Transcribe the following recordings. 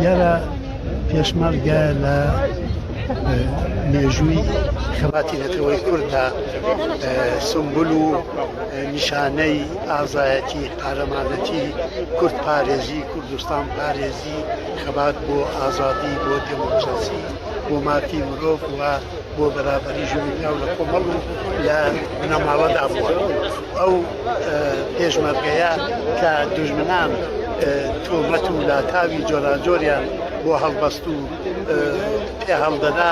یارە پێشمەرگە لە مێژووی خەباتی نەتەوەی کورددا سمبول و نیشانەی ئازایەتی قارەمانەتی کورد پارێزی کوردستان پارێزی بەڕاستی خەبات بۆ ئازادی بۆ دێمۆکڕاسی بۆ مافی مرۆڤ و بۆ بەرابەری ژن و پیاو لە کۆمەڵ و لە بنەماڵەدا بووە ئەو پێشمەرگەیە کە دوژمنان تۆمەت و لاتاوی جۆراجۆریان بۆ هەڵبەست و پێ هەڵدەدا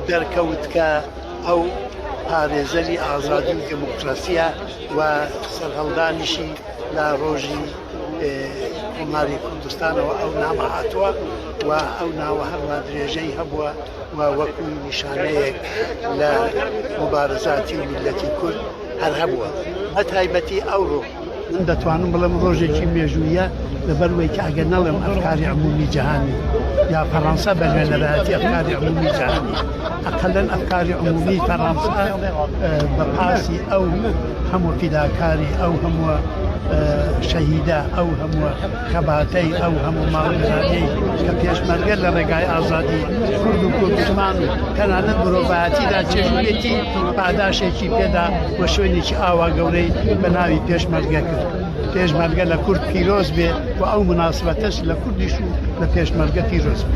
دەرکەوت کە ئەو پارێزەری ئازادی و دێمۆکڕاسیە و سەرهەڵدانیشی لە ڕۆژی کۆماری کوردستانەوە ئەو نامە هاتووە و ئەو ناوە هەروا درێژەی هەبووە و وەکو نیشانەیەک لە مبارزاتی میلەتی کورد هەر هەبووە بە تایبەتی ئەوڕۆ من دەتوانم بڵم ڕۆژێکی مێژوویە لەبەروەی کە ئەگەر نەڵێم ئەفکاری عمومی جیهانی یا فەڕەنسا بە نوێنەرایەتی ئەفکاری عمومی جیهانی ئەقلەن ئەفکاری عمومی فەڕەنسا بە پاسی ئەو هەموو فیداکاری ئەو هەمووە شەهیدە ئەو هەمووە خەباتەی ئەو هەموو ماڵەکانی کە پێشمەرگە لە ڕێگای ئازادی کورد و کوردمان و تەنانەت مرۆڤایەتیدا چێژێتی پاداشێکی پێدا و شوێنێکی ئاوا گەورەی بە ناوی پێشمەرگە کرد. پێشمەرگە لە کورد پیرۆز بێ و ئەو مناسبەتەش لە کوردیش و لە پێشمەرگە پیرۆز بێ.